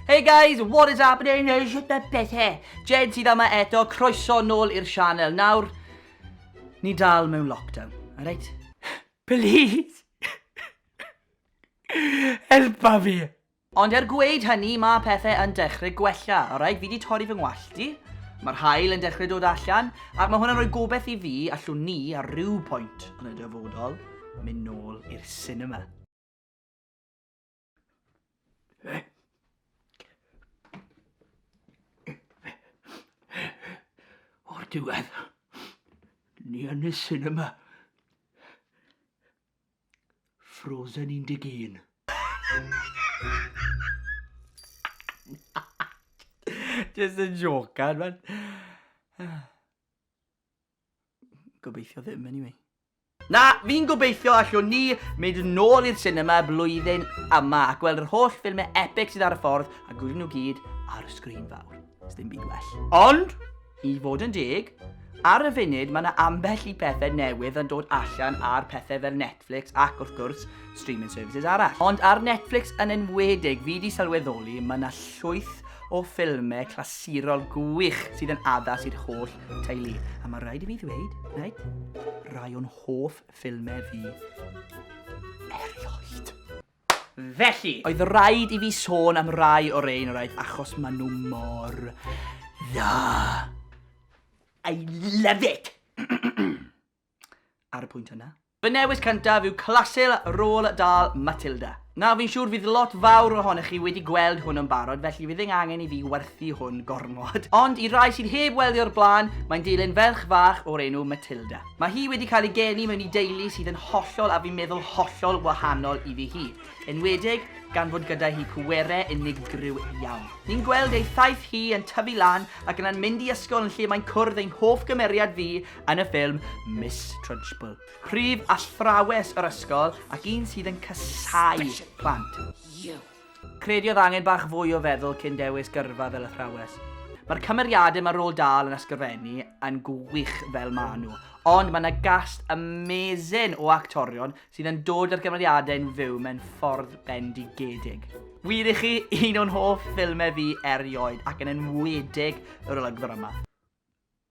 Hey guys, what is happening? Shwt mae bethe? Jed sydd yma eto, croeso nôl i'r sianel. Nawr, ni dal mewn lockdown, alright? Please! Helpa fi! Ond er gweud hynny, mae pethau yn dechrau gwella, alright? Fi di torri fy ngwallt i, mae'r hael yn dechrau dod allan, ac mae hwnna'n rhoi gobeith i fi allwn ni ar ryw pwynt yn y dyfodol mynd nôl i'r cinema. O'r diwedd, ni yn y cinema. Frozen 11. Just a joke, man. Gobeithio ddim, anyway. Na, fi'n gobeithio allwn ni mynd nôl i'r sinema blwyddyn yma ac weld yr holl ffilmau epic sydd ar y ffordd a gwylio nhw gyd ar y sgrin fawr. Does dim byd well. Ond, i fod yn deg, ar y funud mae yna ambell i pethau newydd yn dod allan ar pethau fel Netflix ac, wrth gwrs, streaming services arall. Ond ar Netflix yn enwedig, fi di sylweddoli mae yna llwyth o ffilmau clasurol gwych sydd yn addas i'r holl teulu. A mae rhaid i fi ddweud, right, rai o'n hoff ffilmau fi erioed. Felly, oedd rhaid i fi sôn am rai o'r ein rhaid achos maen nhw mor dda. I love it! Ar y pwynt yna, Fy newis cyntaf yw Clasel Roald Dahl, Matilda. Nawr, fi'n siŵr fydd lot fawr ohonoch chi wedi gweld hwn yn barod, felly fydd eng angen i fi werthu hwn gormod. Ond i rai sydd heb weld hi o'r blaen, mae'n dilyn ferch fach o'r enw Matilda. Mae hi wedi cael ei geni mewn i deulu sydd yn hollol a fi'n meddwl hollol wahanol iddi hi, enwedig gan fod gyda hi pwerau unigryw iawn. Ni'n gweld ei thaith hi yn tyfu lan ac yna'n mynd i ysgol yn lle mae'n cwrdd ein hoff gymeriad fi, yn y ffilm Miss Trunchbull. Prif athrawes yr ysgol ac un sydd yn casau plant. Crediodd angen bach fwy o feddwl cyn dewis gyrfa fel athrawes. Mae'r cymeriadau mae rôl dal yn ysgrifennu yn gwych fel maen nhw, ond mae yna gast amazing o actorion sydd yn dod â'r cymeriadau'n fyw mewn ffordd bendigedig. Wir i chi, un o'n hoff ffilmau fi erioed ac yn enwedig yr olygfa yma.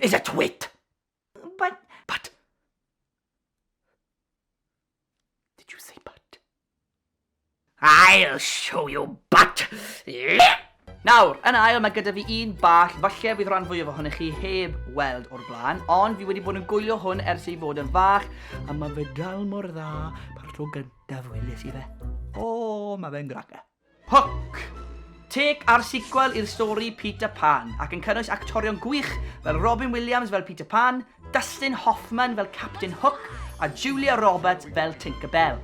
Is it wit? But... But... Did you say but? I'll show you but! Nawr, yn ail, mae gyda fi un bach, falle bydd rhan fwyaf ohonych chi heb weld o'r blaen, ond fi wedi bod yn gwylio hwn ers ei fod yn fach, a mae fe dal mor dda par tro gyntaf weles i fe. O, mae fe'n graga. Hook! Take a'r sequel i'r stori Peter Pan, ac yn cynnwys actorion gwych fel Robin Williams fel Peter Pan, Dustin Hoffman fel Captain Hook a Julia Roberts fel Tinker Bell.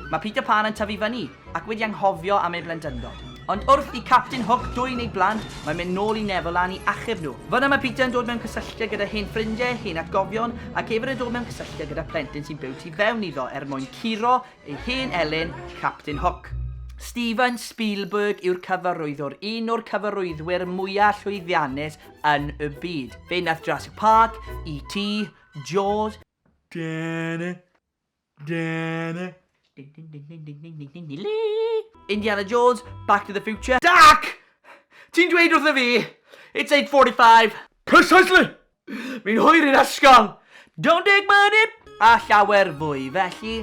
Mae Peter Pan yn tyfu fyny ac wedi anghofio am ei blentyndod. Ond wrth i Captain Hook dwyn ei blant, mae'n mynd nôl i Neverland i achub nhw. Fan'na mae Peter yn dod mewn cysylltiad gyda hen ffrindiau, hen atgofion, ac hefyd yn dod mewn cysylltiad gyda phlentyn sy'n byw tu fewn iddo er mwyn curo Ei hen elyn, Captain Hook. Steven Spielberg yw'r cyfarwyddwr, un o'r cyfarwyddwyr mwyaf llwyddiannus yn y byd. Fe nath Jurassic Park, E.T, Jaws, Indiana Jones, Back to the Future. Jack! Ti'n dweud wrtho fi, it's 8.45! Precisely! Fi'n hwyr i'r ysgol! Don't take my dip! A llawer fwy, felly,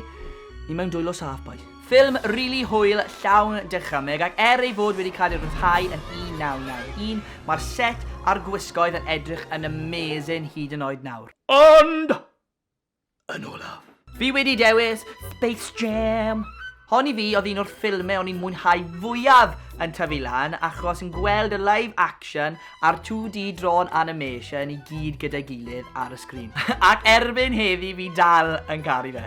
ni mewn dwylo saff, bois. Ffilm rili hwyl, llawn dychymyg, ac er ei fod wedi cael ei ryddhau yn 1991, mae'r set a'r gwisgoedd yn edrych yn amazing hyd yn oed nawr. Ond! yn olaf. Fi wedi dewis Space Jam! Hon i fi oedd un o'r ffilmau o'n i'n mwynhau fwyaf yn tyfu lan achos yn gweld y live action a'r 2D drawn animation i gyd gyda'i gilydd ar y sgrin. Ac erbyn heddi fi dal yn caru fe.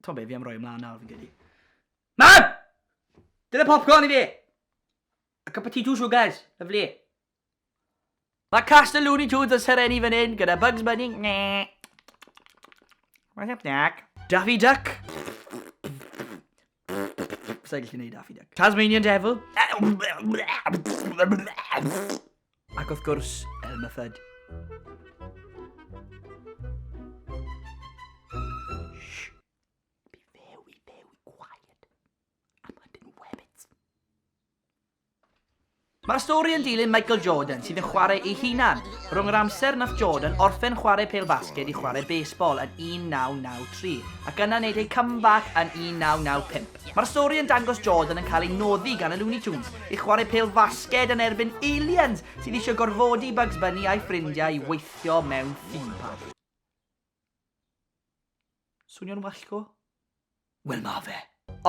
T'o' be' fi am roi ymlaen nawr fi'n credu. Mam! Dyna popcorn i fi! A cup of tea two sugars, lyfli. Mae cast y Looney Tunes yn serennu fan hyn gyda Bugs Bunny. What's up, Jack? Daffy Duck. Sa'n gallu gwneud Daffy Duck. Tasmanian Devil. Ac wrth gwrs, Elmer Fudd. Mae'r stori yn dilyn Michael Jordan sydd yn chwarae ei hunan, rhwng yr amser nath Jordan orffen chwarae pêl-fasged i chwarae baseball yn 1993 ac yna wneud ei comeback yn 1995. Mae'r stori yn dangos Jordan yn cael ei noddi gan y Looney Tunes i chwarae pêl-fasged yn erbyn aliens sydd eisiau gorfodi Bugs Bunny a'i ffrindiau i weithio mewn theme park. Swnio'n wallgo? Wel ma fe.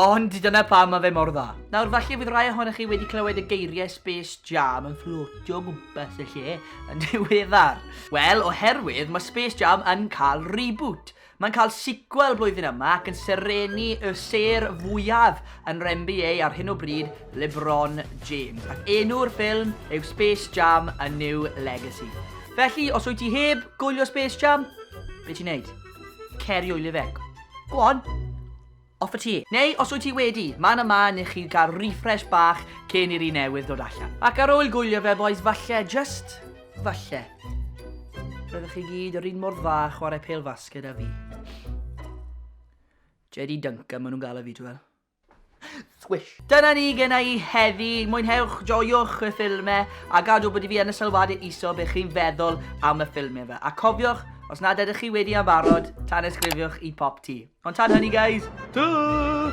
Ond dyna pam ma fe mor dda. Nawr falle fydd rai ohonoch chi wedi clywed y geiriau Space Jam yn fflotio o gwmpas y lle yn ddiweddar. Wel, oherwydd mae Space Jam yn cael reboot. Mae'n cael sequel blwyddyn yma ac yn serenu y sêr fwyaf yn rnba ar hyn o bryd, LeBron James, ac enw'r ffilm yw Space Jam A New Legacy. Felly, os wyt ti heb gwylio Space Jam, be ti'n neud? Ceri o'i fe. Go on, off y ti. Neu, os wyt ti wedi, man yma ni i chi gael refresh bach cyn i'r un newydd dod allan. Ac ar ôl gwylio fe, boys, falle, just falle, roeddech chi gyd yr un mor dda chwarae pel fasged a fi. JD Duncan, maen nhw'n galw fi, ti'n gweld? Swish. Dyna ni gen i heddi. Mwynhewch, joiwch y ffilmau a gadw bod i fi yn y sylwadau iso be chi'n feddwl am y ffilmau fe. A cofiwch, os nad ydych chi wedi am barod, tan ysgrifiwch i pop ti. Ond tan hynny, guys, tŵ!